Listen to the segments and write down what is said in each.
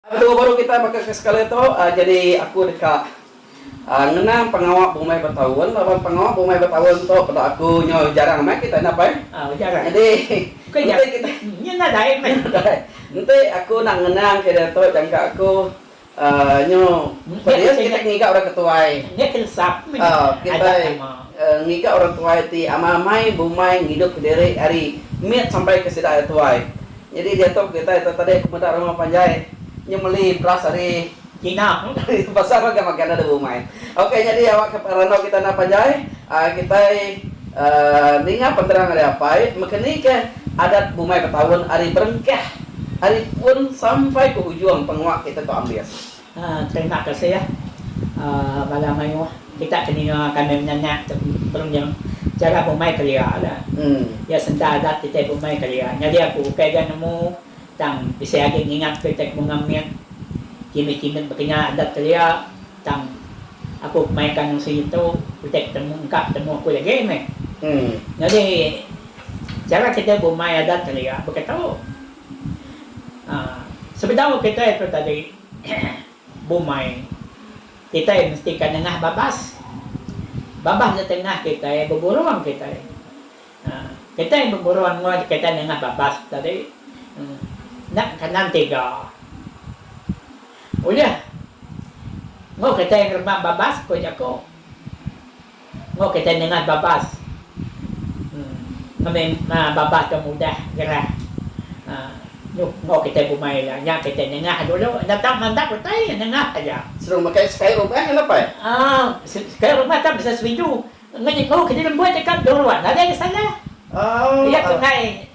Atur baru kitai baka ke sekali tu jadi aku deka ngenang pengawa bumai betaun laban pengawa bumai betaun tu peda aku nyo jarang meh kitai nap ai jadi enti kitai nadai enti aku nak ngenang ke diatu jangka aku nyo pedias kitai ngiga orang ke tuai kitai ngiga orang tuai ti amai-amai bumai ngidup kediri ari mit sampai ke sida ari tuai. Nyadi diatu kitai tu tadi aku meda rumah panjai nyu meli beras ari China ari pasar ngagai makan enda ada umai. Ok nyadi awak ke randau kitai enda panjai uhh kitai uhh ninga penerang ari apai mekenikah adat bumai betaun ari berengkah ari pun sampai ke ujung penguak kitai tu ambis. Terima kasih bala mayuh kita ke ninga kami menyanyi tu berunding chara bumai kelia la iya senda adat kitai bumai kelia nyadi aku bukai ga nemu tang bisi agi ngingat ku kitai kemunga mit kimet kimet baka nya adat kelia tang aku kemaya ka nungsi ngetu kitai ketemu engka ketemu aku lagi meh nyadi chara kitai bumai adat kelia baka tu. Aaa sebedau kitai tu tadi bumai kitai mesti ka nengah babas. Babas di tengah kitai beburung kitai. Aaa kitai beburung enggau kitai nengah babas tadi enda kanan tiga. Ulih enggau kitai ngeremam babas ko jaku. Enggau kitai nyengat babas. Ngemem babas dong udah gerah. Nuh enggau kitai bumai ila. Nya kitai nengah dulu. Enda tau mandap utai. Nengah aja. Seru makai sky rumah ngena pai? Aaa sky rumah tang bisa serindu. Enggau kitai lembut deka dong luar nadai salah. Iya tungai.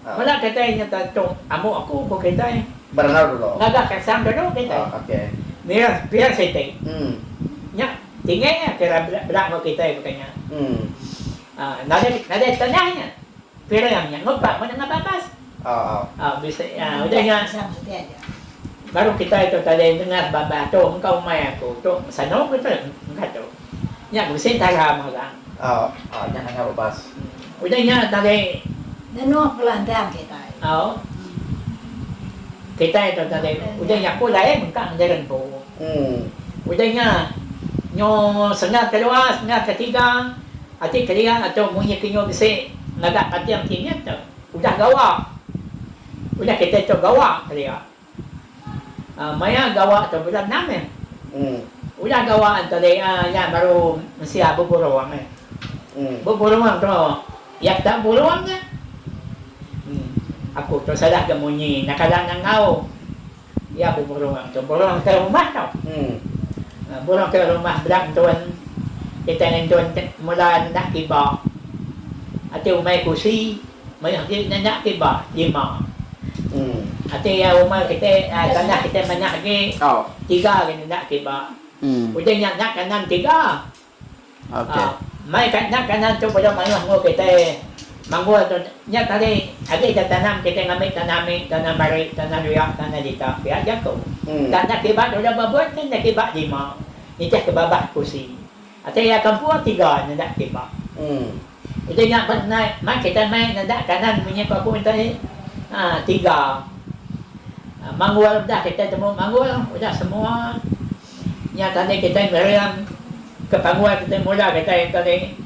Bala kitai nyata tu amuk aku, ku kitai. Berengau dulu. Ngaga kasam dulu, kitai. Oh, okey. Mira, pia siti. Em. Nya tinggal nya pira bela bela enggau kitai bukai nya. Em. Ah, nadai nadai tanah nya. Pira iya nya enggau pak meda enggau babas. Oh, oh. Ah, bisi ah, udah nya baru kitai tu tadi ndengar babas tu engkau mai aku tu sanu ke tu, engka tu. Nya bisi entara mega. Oh, oh nya nanga babas. Udah nya tadi. Ngenuk kelandang kitai. Au. Kitai tu tadi. Udah nya aku lain mengkang ngajar empu. Udah nya nyu sengah kedua sengah ketiga ati kelia tu munyi ke nyu bisi ngaga kating kinyit tu udah gawa. Udah kitai tu gawa kelia. Aa maya gawa tu peda enam eh. Udah gawa tadi aa nya baru mensia beburung eh. Beburung tu iya peda burung nya. Aku tu salah ga munyi enda kada nangau iya beburung tu. Burung ke rumah tau. Aa burung ke rumah beda ngentun kitai ngentun mula nenda kiba ati umai kusi. Meri agi nyenyak ti ba lima. Ati iya umai kiti tanah kiti manyak agi tiga agi nyenyak ti ba. Uji nya nya kanan tiga. Mai ka nya kanan tu peda mayuh enggau kiti manggul tu nya tadi agi ida tanam kiti ngambi tanah ami tanah bari tanah luya tanah dita pia jaku. Tanah ti ba tu udah ba buan kan nya ti ba lima nitihka babah pusi. Atai iya kampung tiga nendak timba. Utai nya ba nai mai kitai mai nendak kanan munyi paku utai tiga. Manggul udah kitai temu manggul udah semua nya tadi kitai meriang ke panggul kitai mula kitai tadi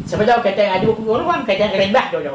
sebedau kitai ngadu ke burung kitai ngerimbah dulu.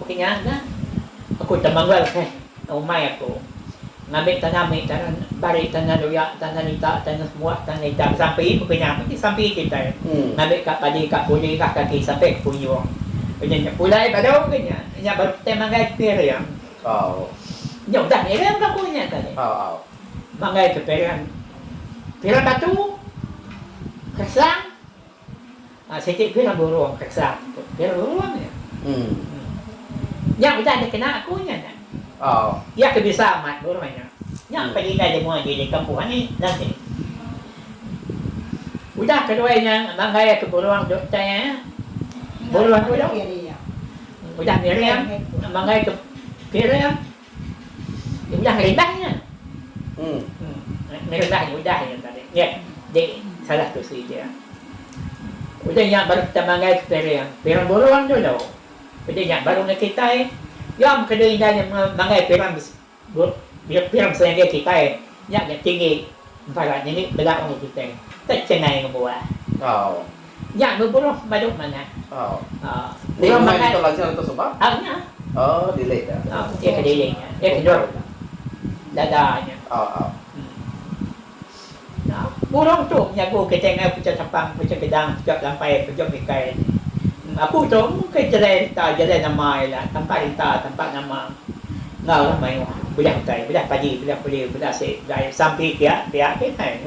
Baka nya nah, aku temanggal keh umai aku ngambi tanah mih, tanah bari, tanah luya, tanah nita, tanah semua, tanah nita besampi, baka nya meh ti sampi kitai. Ngambi ka padi, ka puli, ka kaki sampai ke punjung. Udah nya pulai baru ke nya, nya baru kitai manggai ke piring. Nya udah miring ka aku nya tadi. Manggai ke piring, piring batu, keresang, Siti pia burung keksang tu. Pia burung nya. Nya udah dikena aku nya nya. Pia ke bisa amat burung nya. Nya pia indai lemu agi di kampung ami nanti. Udah keduai nya manggai ke burung duk tai eh. Burung tu udah miring manggai ke piring. Nya udah ngeri bah nya. Ngeri bah nya udah nya tadi. Nya jadi salah tu si dia. Udah nya baru kita manggai ke piring. Piring burung dulu. Udah nya baru ngan kitai. Nya meh kena indai nya manggai piring bes piring serangga kitai. Nya tinggi. Empara tinggi bela umur kitai. Techengai ngembuan. Nya beburuh baduh manah. Ti rumah di Tok Lanjang tu suba? Au nya. Oh dilik nya. Au iya ke dilik nya. Iya ke dok dada nya. Au au. Nya burung tu menyagu kitai enggau Puchong Tapang, Puchong Kedang, Puchong Kelampai, Puchong Ikai. Aku tu mung ke jerai reta, jerai nama iya lah. Tampa reta, tampa nama. Enggau orang mayuh beliah utai, beliah padi, beliah peliu, beliah asi, beliah air. Sampi pia, pia kitai.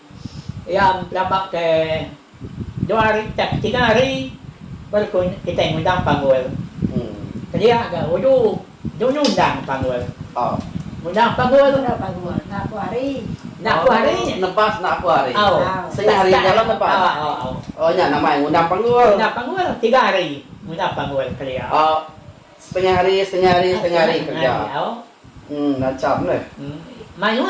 Iya belaba ke dua hari tang ke tiga hari baru ku kitai ngundang panggul. Kelia ga udu dulu undang panggul. Undang panggul. Enda apu hari. Enda apu hari. Nebas enda apu hari. Setengah hari nya lah nebas. Oh nya nama iya ngundang panggul. Undang panggul tiga hari ngundang panggul kelia. Setengah hari setengah hari setengah hari kereja. Uhh ngacham deh. Uhh mayuh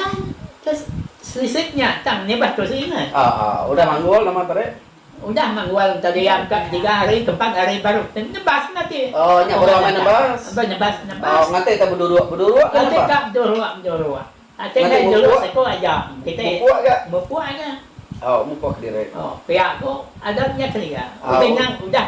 ke selisik nya tang nyebah ke seingat. Ahh ahh udah manggul nama parit? Udah manggul enta diam ka tiga hari ke empat hari baru ke nebas meh ati. Ohh nya baru amai nebas. Ambai nebas nebas. Ohh nganti ka beduruk beduruk ka nebas. Nganti ka beduruk beduruk. Ati meh beduruk seko aja kitai. Mupuk ga? Mupuk ga. Ohh mupuk kediri. Ohh pia ku ada nya kelia. Udah nya udah.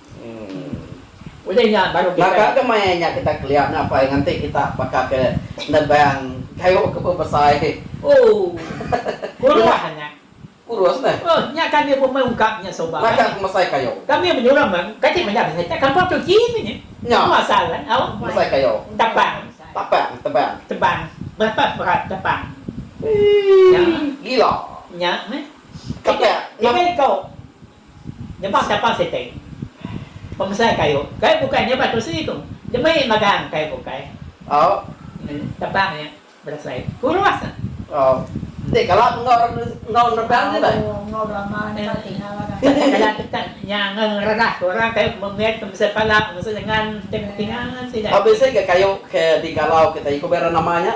Baka ke maya nya kita kelia nyapai nganti kita baka ke nebang kayu ke bebesai. Kurus neh. Baka ke mesai kayu. Nya. Mesai kayu. Tapang. Tebang. Ii. Gila. Kepak. Nyebah kapal sitik. Pemesai kayu. Kayu bukai nyebah kerusi tu. Demi magang kayu bukai. Terbang nya berasai kurus. Enti kala enggau nerbang ti bai. Kala tetap nya ngereras orang kayu ke mit pemesai pala, pemesai lengan, pemesai ketinga sida. Bisi ga kayu ke digalau kitai ku bera nama nya?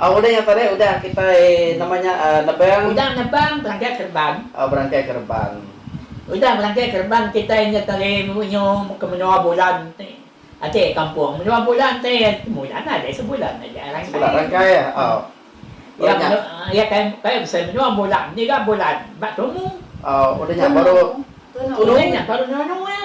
Udah nya tadi udah kitai nama nya nebang. Udah nebang berangkai kereban. Berangkai kereban. Udah berangkai kereban kitai nya tadi munyo ke menua bulan ti ati kampung. Menua bulan ti sebulan aja sebulan aja rangkai. Sebulan rangkai iya kai kai bisi menua bulan ngiga bulan ba tumu. Udah nya baru tunung. Udah nya baru nunu iya.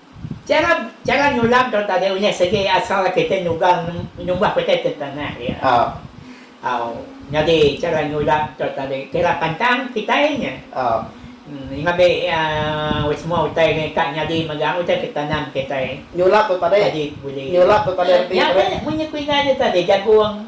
Chara chara nyulam tu tadi unyah segi asal kita nyugang nyumbah kita ti tanah dia. Au. Nyadi chara nyulam tu tadi kira pantang kitai nya. Ngabi iya semua utai nya ka nyadi mega utai ke tanam kitai. Nyulam tu tadi. Nyadi bulih. Nyulam tu tadi. Nya ke mun ku indai nya tadi jagung.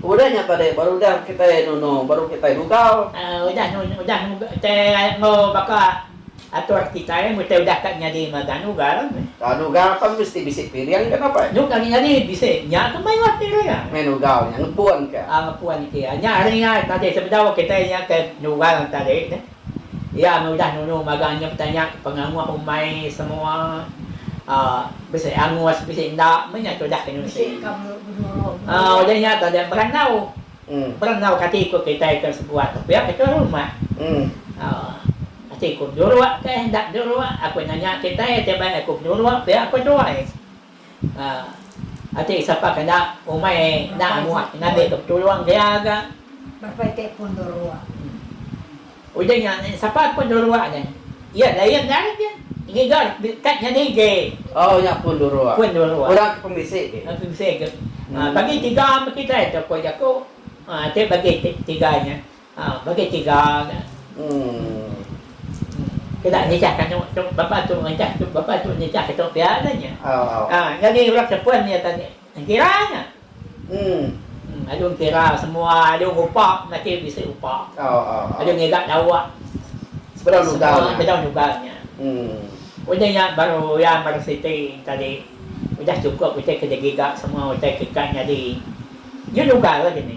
Udah nya tadi baru udah kitai nunu baru kitai gugau. Udah nunu udah kitai enggau baka atur kitai mun kitai udah ka nyadi enggau Danu Gar. Danu Gar kan mesti bisi piring ke napa? Nyuk agi nyadi bisi. Nya ke meh lah piring. Meh nugau nya ngepun ke. Ngepun ke. Nya hari nya tadi sebedau kitai nya ke nugau tadi. Iya meh udah nunu magang nya betanya ke penganguh umai semua uhh bisi angus bisi enda meh nya tudah ke nusi uhh udah nya tadi berandau berandau kati ku kitai ke sebuah tu pia ke tuai rumah uhh ati ku beduruk ke enda beduruk aku nanya kitai ti bai aku beduruk pia aku tuai. Aa. Ati sapa ke enda umai enda muah ngambi ke petulung dia ga. Bapa iti pun nuruk. Udah nya sapa pun nuruk nya. Iya lain dai ke ngiga kad nya nige. Oh nya pun nuruk. Pun nuruk. Orang ke pemisi ke. Pemisi ke. Bagi tiga me kitai tu ko jaku. Aa ti bagi tiga nya. Ha bagi tiga nya. Uhh. Enda nitih ka nya tu bapa tu nitih tu bapa tu nitih ka tu pia nya nya. Ha nyadi orang sepun nya tadi engkira nya. Uhh. Alu engkira semua alu ngupa melati bisi upa. Alu ngiga dawa sebedau lugar nya. Sebedau lugar nya. Uhh. Udah nya baru uyan baru siti tadi udah cukup utai ke digiga semua utai ke ka nyadi. Nya lugar lagi ni.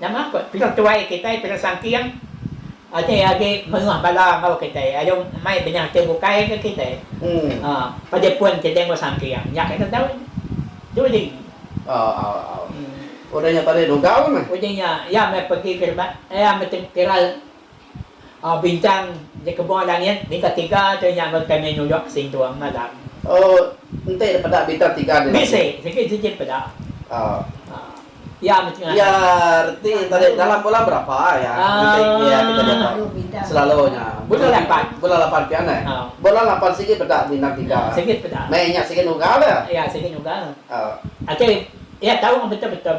Nama ko pila tuai kitai pila sangking ati agi mengah bala enggau kitai alu mai benyah ti bukai ke kitai ha pagi pun kitai enggau sangking nya kitai tau tu ji udah nya tadi dugau meh udah nya ya meh pagi ke rebak ya meh kiral. Bincang di kebun langit bintang tiga tu nyambut kami nuyok ke Singtung malam. Oh, enti da peda bintang tiga di langit. Bisi, sigi sigi da peda. Oh. Iya meh tengah. Iya reti enta deh dalam bulan berapa iya ngetik iya kita jaga. Selalu nya. Bulan lapan. Bulan lapan pian deh. Oh. Bulan lapan sigi peda bintang tiga. Sigi da peda. Meh inya sigi nuga deh. Iya sigi nuga. Oh. Ati iya tau betul betul.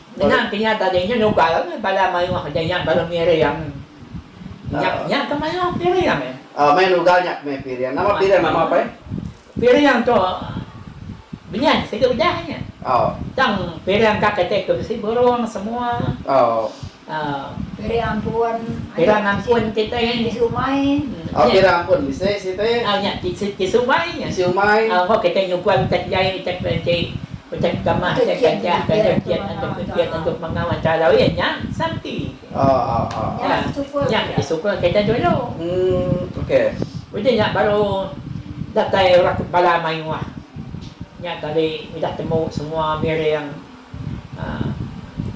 Ngenang ke nya tadi nya nugal agi bala mayuh ke dinya baru miring. Nya nya ke mayuh piring eh. Oh meh nugal nya ke meh piring. Nama piring nama pai? Piring tu benyah sida udah nya. Oh. Tang piring ka kite ke bisi burung semua. Oh. Um. Piring ampun. Piring ampun kite. Tisu umai. Oh piring ampun bisi siti. Oh nya tisu umai nya. Tisu umai. Oh kite nyugun tak jai tak enti. Utai ke tama enda kiat ngajar taja kiat enda ke kiat enggau pemangau antara lalu iya nya Santi. Nya Sukul. Nya ke Sukul Kaitan Jolo. Uhh okey. Udah nya baru datai orang ke bala mayuh. Nya tadi udah temu semua miring uhh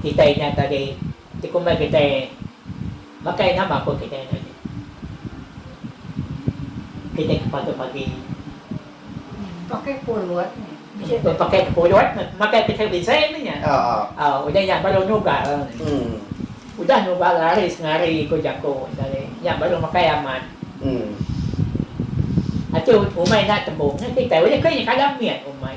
kitai nya tadi. Ti kumbai kitai makai nama ko kitai enda agi. Kitai ke pagi pagi. Pakai pulut nya. Pakai ke pulut nya makai kitai bisai meh nya. Au udah nya baru nugal. Udah nugal lari sengari ko jako enda alai nya baru makai amat. Ati umai enda tembung kitai ulih ko nya kada mit umai.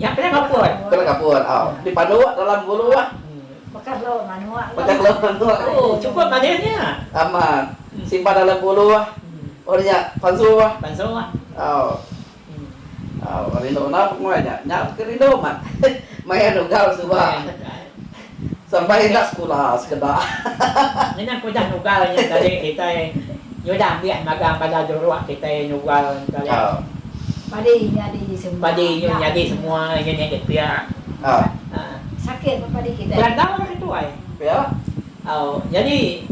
Nya kena kapur. Kena kapur. Au. Di panu dalam gulu ah. Baka gelu manu ah. Baka gelu manu ah. Oh, cukup manis nya. Amat. Simpan dalam gulu ah. Oh nya pansu ah. Pansu ah. Au. Au, rindu enda pengoi nya. Nya pun rindu amat. Maya nugal suba. Sampai enda sekula sekeda. Ngena ku udah nugal nya tadi kitai nyudah ambik magang bala juruk kitai nugal tadi. Padi nyadi semua. Padi nyu nyadi semua nyu nyadi pia. Sakit ba padi kitai. Belantau dah ketuai. Pia. Au nyadi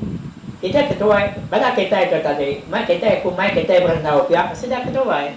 kitai ketuai bala kitai tu tadi mai kitai ku mai kitai berandau pia pasti dah ketuai.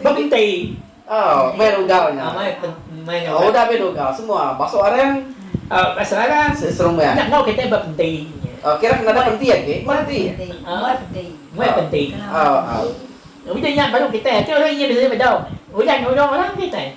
Bentei. Mai rugau nya. Udah meh rugau semua masuk arang. Masuk arang. Serumah. Nya enggau kitai ba pentei nya. Kira kena ada penti agi. Mai penti. Udah nya baru kitai. Udah nya bisi bedau. Udah nulung orang kitai.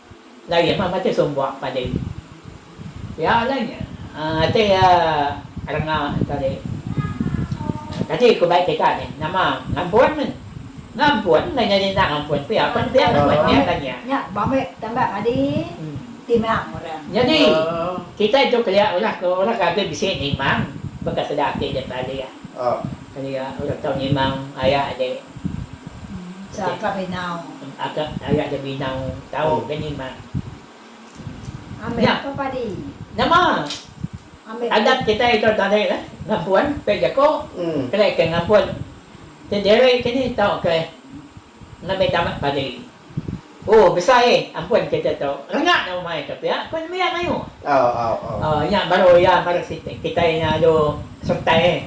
Laie mah matai sumbok padi pia alai nya ti renga tadi. Tadi ku bai kita nih nama ngampun meh ngampun udah nyadi enda ngampun pia pan pia nama nya dah nya. Nya bamai tambah padi timang orang. Nyadi kitai tu kelia ulah ke ulah ke agi bisi nimang baka sida ati dia pia dia. Kelia udah tau nimang ayak je. Esa ka binau. Aka ayak je binau tau ke nimang. Ambil apa padi. Nama. Ambil adat kitai ito tadi lah ngampun pek jako. Kelia ke ngampun. Ti diri ke ni tau ke. Endang meh tamat pagi lagi. Ooh besai eh ampun kita tu rengak dah umai tu pia ku nembiak mayuh. Ooh nya baru iya mara siti kitai nya alu sertai eh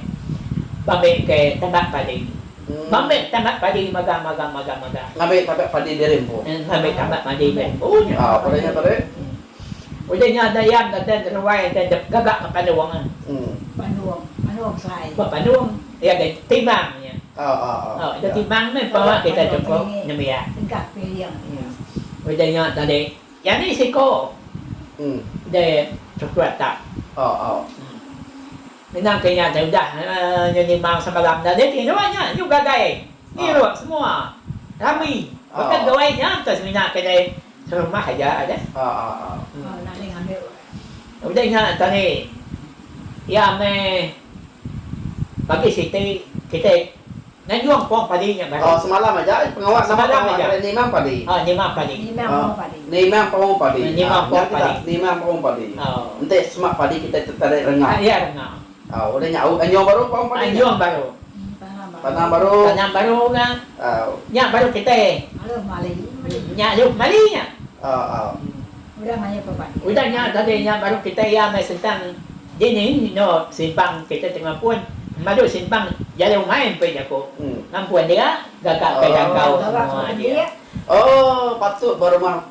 bambe ke tamat pagi. Bambe tamat pagi maga maga maga maga. Ngambi tamat padi diri empu. Ngambi tamat padi diri empu nya. Ooh peda nya tadi. Udah nya enda iya enda den ruai enda den gaga ke pandung eh. Pandung, pandung besai. Ba pandung. Iya ke timbang nya. Au ida timbang meh pa kita chukup nembiak. Udah nya tadi nyadi siko di chukup ata. Ina ke nya tu udah nyu nimbang semalam tadi tiruk nya nyu gagai tiruk semua rami baka doi nya semina ke dei serumah aja deh. Udah nya tadi iya meh bagi siti kitai nganjung pong padi nya baru. Semalam aja pengawa nama pengawa tadi nimang padi. Nimang padi. Nimang pong padi. Nya kita nimang pong padi. Enti semak padi kitai tadi renga. Au udah nya au anyong baru pang padi nya. Anyong baru. Tanam baru. Tanam baru ga. Au. Nya baru kitai. Aluh mali. Nya aluh kemali nya. Au au. Udah mayuh ke padi. Udah nya tadi nya baru kitai iya meh sentang dini eno simpang kitai tengah pun madu simpang jalai umai empai jaku ngampun dia gaga kai dangkau semua dia. Oh patut ba rumah.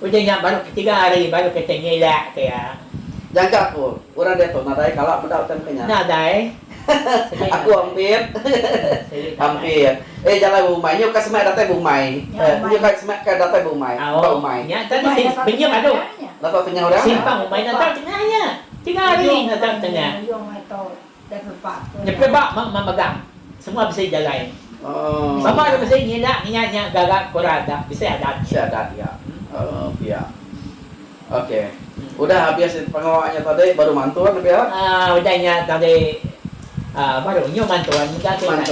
Udah nya baru ketiga hari baru kita nyilak ke iya. Jaga ku orang diatu nadai kala meda utai mega nya. Nadai. Selit nadai. Aku ampit. Selit nadai. Ampit. Eh jalai ba umai. Nyu ka semak datai ba umai. Eh nyu ka semak ka datai ba umai. Ba umai. Nya tadi sim benyem ado. Napa tengah orang nya. Simpang umai nata tengah nya. Tiga hari nata tengah. Nyepit ba meh megang semua bisi jalai sama nya bisi nyindak ngiya nya gaga kura adat bisi adat nya. Bisi adat nya uhh pia ok udah habis pengawa nya tadi baru mantun pia. Uhh udah nya tadi uhh baru nyu mantun mega kitai.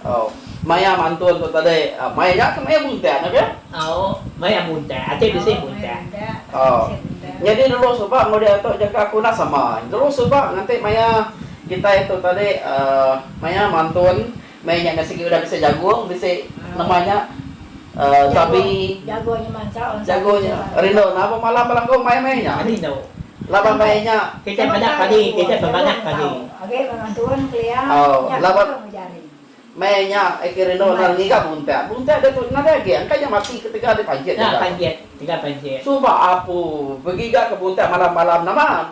Au. Maya mantun tu tadi. Au. Maya nya ke maya muntak nya ke? Au. Maya muntak. Ati bisi muntak. Au. Nyadi dulu suba enggau diatu jaka aku enda sama. Dulu suba nganti maya kitai tu tadi aaa maya mantun maya nya sigi udah bisi jagung bisi nama nya. Jago jago nya manca orang sagu nya rindu napa malam belengkung mai meh nya rindu laban meh nya kita meda padi kita bemanah padi age ba ngantun kelia nya laban jari meh nya eke rindu enda ngiga buntak buntak dia tu nadai agi engka nya mati ketegal dia panjit nya panjit tegal panjit suba apu begiga ke buntak malam malam nama.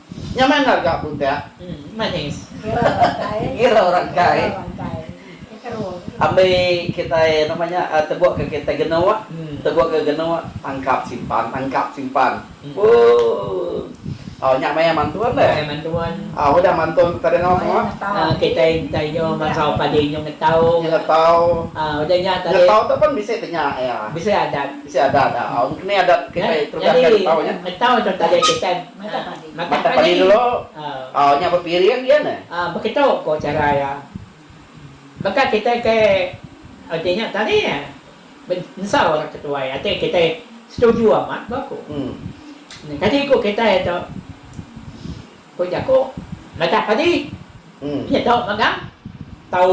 Nya meh endar ga budak. Manis. Ngira orang kai. Ambi kitai nama nya tebuk ke kitai genuk tebuk ke genuk tangkap simpan tangkap simpan. Ooh. Nya maya mantun deh. Maya mantun. Au udah mantun kita denga semua. Kitai enti inyo masau padi inyo ngetau. Inyo ngetau. Udah nya tadi. Ngetau tu pun bisi tanya iya. Bisi adat. Bisi adat. Au engkini adat kitai terugang ngetau nya. Ngetau tu tadi kitai. Mata padi dulu, au nya bepiring dia ne. Beketu ko chara iya. Baka kitai ke ati nya tadi ensau orang ketuai ati kitai setuju amat ba ko. Kadi ko kitai tu ko jako mata padi. Nya tau magang. Tau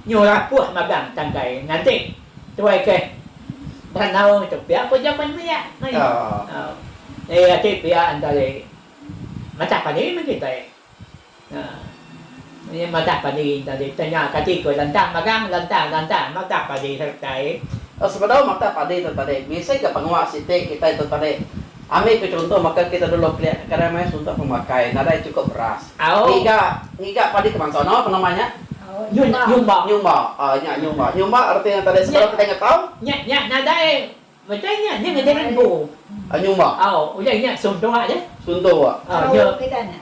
nyu rapuh magang tangkai nganti tuai keh beranau ngitu pia ko jaku nya maya meh nya ati pia antare matah padi meh kitai nya matah padi tadi tanya kati ko lantang magang lantang lantang matah padi sertai. Sebedau matah padi tu tadi bisi ga pengawa siti kitai tu tadi Ambi ku chunto baka kita dulu kelia ke kedai maya suntok pemakai nadai chukup beras. Ngiga ngiga padi ke bansa no penama nya? Nyumba. Nyumba. Aaa nya nyumba. Nyumba reti nya tadi sebedau kitai ngetau. Nya nya nadai meda nya nya ngagai rimbu. Nyumba. Au udah nya suntok aja. Suntok. Au nya.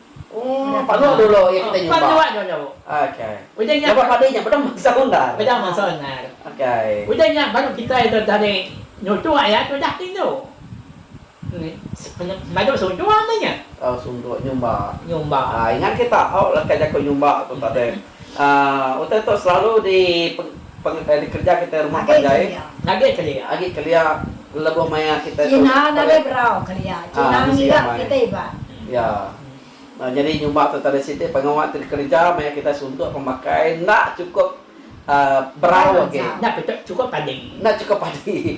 Panu dulu iya kitai nyuba. Panu dulu dulu. Okey. Udah nya. Lebuh padi nya pedang bangsa undar. Pedang bangsa undar. Okey. Udah nya baru kitai tu tadi nutu ayat tu dah tingu. Madu suntuk nya. Oh suntuk nyumba. Nyumba. Ingat kita au leka jaku nyumba tu tadi. Utai tu selalu di dikereja kitai rumah panjai agi kelia lebuh maya kitai tu bisi amai iya nyadi nyuba tu tradisi ti pengawa ti dikereja maya kitai suntuk pemakai enda chukup berau agi enda chukup padi.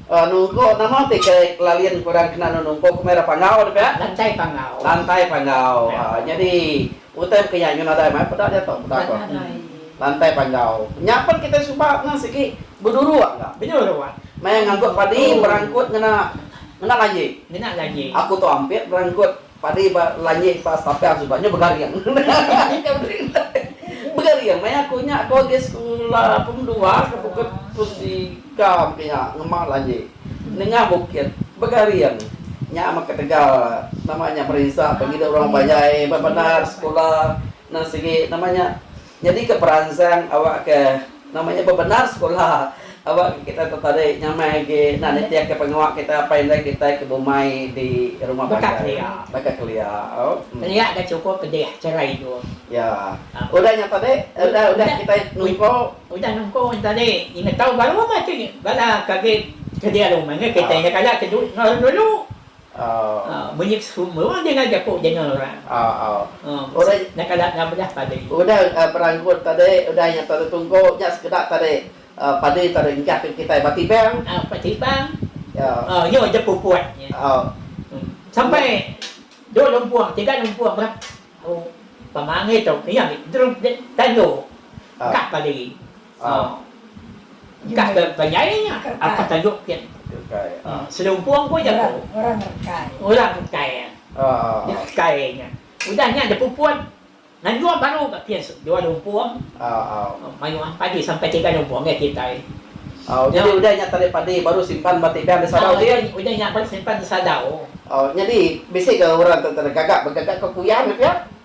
Anu uko nama ti ke lalin kurang kena nunu uko ke mera panggau nih pia. Lantai panggau. Lantai panggau aa nyadi utai baka nya nyu nadai mai peda nya tu peda ko. Lantai panggau nya pen kitai suba ngan sigi beduruak ka. Beduruak. Maya ngangkut padi berangkut ngena ngena laji. Ngena laji. Aku tu ampit berangkut. Padi ba langit ba stapel suba nya begaring. Inya berintai. Begaring meh aku nya ko agi sekula pum dua ke bukut pum tiga pia ngema langit nengah bukit begaring nya meh ketegal nama nya berinsa pengidup orang panjai bebendar sekula nang sigi nama nya. Nyadika peransang awakka nama nya bebendar sekula awakka kita tetarik nyamai agi enda nitihka pengawa kita apai indai kitai ke bumai di rumah panjai baka kelia. Kelia ke chukup pedih chara indu. Ya. Udah nya tadi udah udah kitai nungko. Udah nungko nya tadi ingat tau baru meh ti bala ke agi kelia rumah nya kitai nya kala ke dulu. Menyep semua orang dengar jaku jenal orang. Udah nya kala enggau belah padi. Udah beranggut tadi, udah nya tadi tungku nya sekeda tadi padi tadi enggah ke kitai ba tibang. Ba tibang nya udah puput nya. Sampai dua lumpung, tiga lumpung bah pemangit tu. Iya mih tandu ka padi. A. Engka ke benyai nya atas tajuk ke. Rekai A. Selumpung pun jaku. Orang rekai. Orang rekai A. Rekai nya. Udah nya depuput nganjung baru ka kin dua lumpung. A. Mayuh am padi sampai tiga lumpung ke kitai. A. Nyadi udah nya tarik padi baru simpan ba tiga enda sadau kin. A. Udah nya baru simpan enda sadau. A. Nyadi bisi ke orang tu tadi gagap begagap ka kuyan nya pia.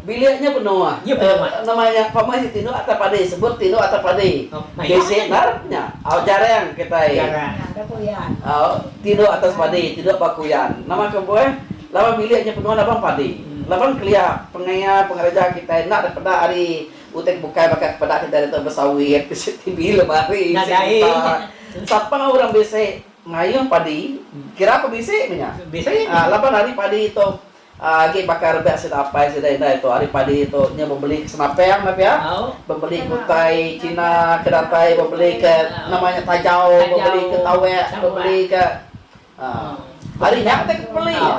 Bilik nya benoa. Nama nya pama nya tinduk atau padi sebut tinduk atau padi. Bisi narap nya. Au jarang kitai. Au tinduk atas padi tinduk ba kuyan. Nama ke buah laban bilik nya benoa laban padi. Laban kelia pengaya pengereja kitai enda da peda ari utai ke bukai baka ke peda kitai ditu besawit, bisi TV lemari, bisi gitar. Sapa orang bisi mayuh padi kira pun bisi meh nya. Laban ari padi tu. Agi baka rebak sida apai sida indai tu ari padi tu nya bebeli ke senapang dah pia bebeli ke utai cina ke datai bebeli ke nama nya tajau bebeli ke tawak bebeli ke ari nya utai ke beli nya.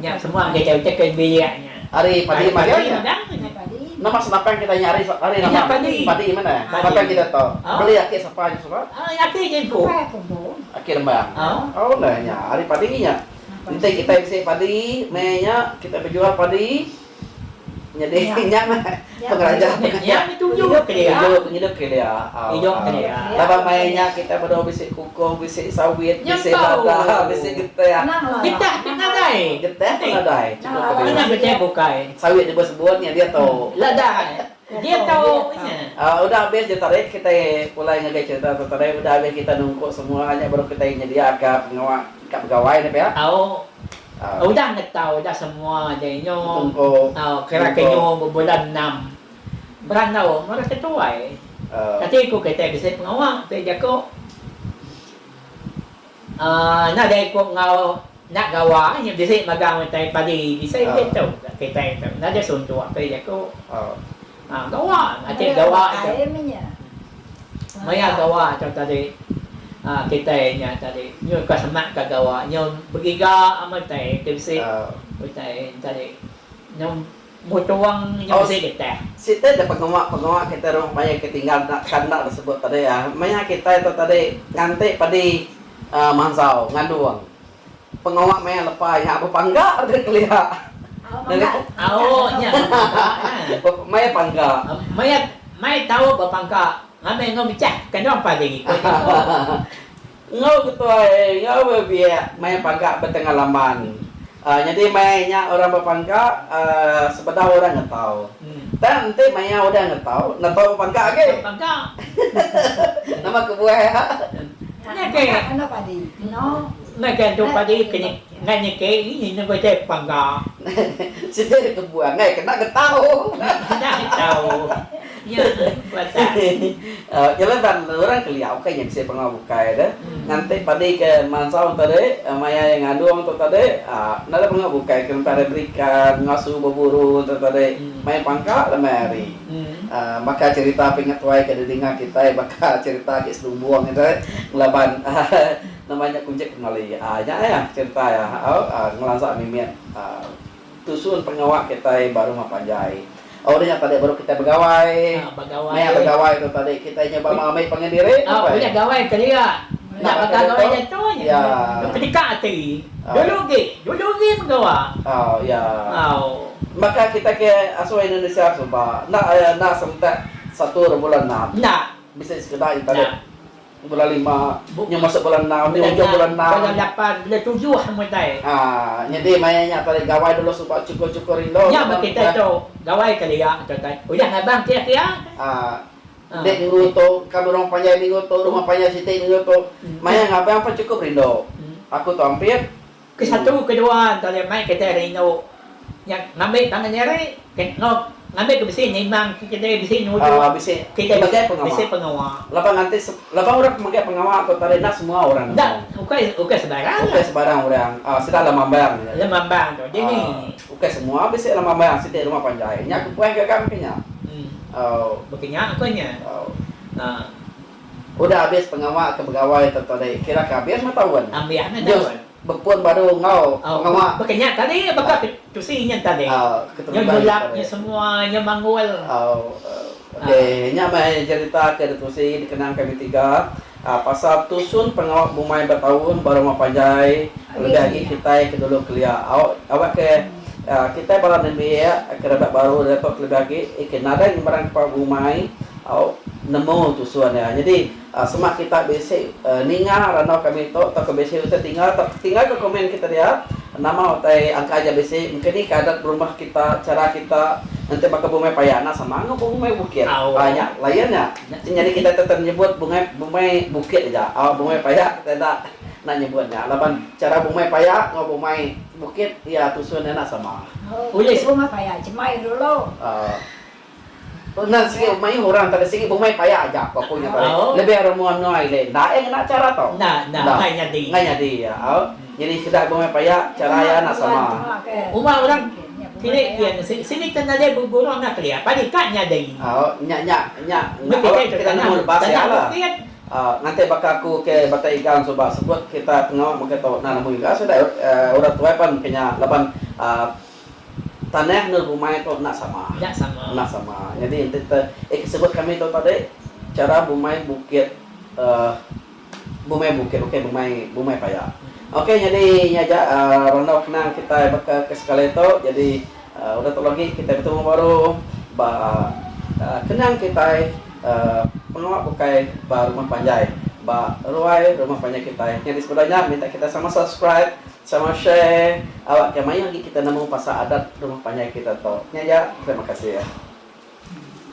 Nya semua enggai jauh utai ke biak nya. Ari padi magang nya. Nama senapang kita nya ari ari nama padi. Padi mene. Senapang kita to. Beli aki sapa nya suba? Aki nya empu. Aki rembang. Oh neh nya ari padi nya. Enti kita bisi padi meh nya kita bejual padi. Nyadi nya meh pengeraja pengajar. Pengidup kelia. Idup kelia. Laban maya nya kitai bedau bisi kukuh, bisi sawit, bisi lada, bisi getih. Getih pun nadai. Getih pun nadai. Chunto ke dia. Sawit deba sebut nya dia tu. Lada. Dia tau apa nya. Udah abis ditarik kitai pulai ngagai cerita tu tadi udah abis kita nungku semua nya baru kitai nyediaka pengawa ka begawai nya pia. Tau udah ngetau udah semua nya inyo kira ke inyo bebulan enam berandau mara ke tuai. Kati ku kitai bisi pengawa pia jaku. Enda deh ku enggau enda gawa inya bisi magang utai padi bisi ulih tu gak kitai tu enda deh suntuk apai jaku gawa ati gawa tu maya gawa tu tadi kitai nya tadi nyun ka semak ka gawa nyun begiga amat utai ti bisi utai tadi nyun Mutuang nya bisi getah. Siti da pengawa pengawa kitai rumah paya ke tinggal enda kan enda da sebut tadi ah maya kitai tu tadi nganti padi aaa manzau ngandung pengawa maya lepa nya bepangga deh kelia maya pangga maya mai tau bepangga ngambi enggau mechah kandung pagi ngikut nya tu. Enggau ketuai enggau bebiak maya paga betengah laman. Nyadi maya nya orang bepangka sebedau orang ngetau. Tang enti maya udah ngetau netau bepangka agi. Nama kebuah iya? Nya ke. Enda ke andu padi ke nya. Endang nya ke ini nya ina bejai pangga. Siti ari kebuan ai kena getau. Kena getau. Nya pasal. Keleban orang kelia ukai nya bisi pengawa bukai tu. Nganti padi ke mansau tadi maya iya ngadung tu tadi enda ada pengawa bukai ke ngempai ari berikan ngasu beburu tu tadi maya pangka lemai hari. Baka cherita pingat tuai ke didengar kitai baka cherita agi sedumbung kitai ngelaban Nama nya kunchip pengali ai nya ai ah cerita ia au ngelansa mimit tusun pengawa kitai ba rumah panjai. Oh udah nya tadi baru kitai begawai. Maya begawai tu tadi kitai nyuba ngambi pengendiri apai. Udah gawai kelia nya baka gawai diatu nya kedeka ati. Dulu agi, dulu agi meh gawa. Oh iya. Baka kitai ke asal Indonesia suba enda enda serentak satu rebulan enam. Enda. Bisi sekeda nya tadi. Bulan lima, Bup nya masuk bulan enam, nya ujung bulan enam. Bulan lapan, bulan tujuh amun utai. Aaa, nyadi maya nya tadi gawai dulu suba chukur-chukur indu. Nya ba kitai tu, gawai kelia tu utai. Udah ngabang kia-kia utai. Aaa, enda minggu tu, ka burung panjai minggu tu, rumah panjai siti minggu tu. Maya ngabang pun chukup rindu. Aku tu ampit, Ke satu ke dua ento leh mai kedai rindu nya ngambi tangan nyari ke enggau ngambi ke bisi nimbang ke kedai bisi nuju kedai bisi pengawa. Laban nanti laban orang ke mega pengawa tu tadi enda semua orang nemu. Ukai ukai sebarang. Ukai sebarang orang sida lemambang aja. Lemambang tu dini. Ukai semua bisi lemambang siti rumah panjai nya kepuas gaga meka nya. Meka nya ko nya. Udah abis pengawa ke begawai tu tu deh kira ke abis meh taun. Ambih meh taun. Nyus bepun baru enggau pengawa. Au baka nya tadi baka ke tusi nya tadi. Au keterubah nya tadi. Nya nyulap nya semua nya manggul. Au okey nya meh jerita ke ditusi dikenang kami tiga pasal tusun pengawa bumai ba taun baru enggau panjai lebih agi kitai ke dulu kelia. Au awa ke kitai bala nembiak ke rebak baru diatu ke lebih agi ke nadai ngembarang ke pengawa bumai Au nemu tusun iya. Nyadi sema kita bisi ninga randau kami tu tauka bisi utai tinggal tauka tinggal ka komen kita dia nama utai angka aja bisi mungkin ni ka adat berumah kita chara kita enti baka bumai paya enda sama enggau bumai bukit. Au nya layan nya. Nyadi kita tetap nyebut bungai bumai bukit aja. Au bumai paya kita enda enda nyebut nya laban chara bumai paya enggau bumai bukit iya tusun iya enda sama. Ulih rumah paya chemai dulu. Au. Pengan sigi mayuh orang kada sigi bemai paya aja ko aku nya tadi lebih orang mua menua ile enda ai ngena cara to enda ngai nyadi iya au nyadi sudah bemai paya cara iya enda sama uma orang keli iya nasi sini ke nadai begurau enda keli apa di ka nyadi au nya nya nya awak kita nemu lebas iya la au nganti baka aku ke bata igang suba sebut kita tengau mega tau na nemu iga sudah orang tuai pan ke nya laban au. Tanah enggau bumai tu enda sama. Enda sama. Nyadi enti kita eh ke sebut kami tu tadi chara bumai bukit uhh bumai bukit bukai bumai bumai paya. Okey nyadi nya aja uhh randau kenang kitai baka ke sekali tu nyadi uhh udah tu lagi kitai betemu baru ba uhh kenang kitai uhh pengawa bukai ba rumah panjai ba ruai rumah panjai kitai. Nyadi sebenar nya minta kitai sama subscribe. Sama share awakka mayuh agi kita nemu pasal adat rumah panjai kita tu nya ja terima kasih.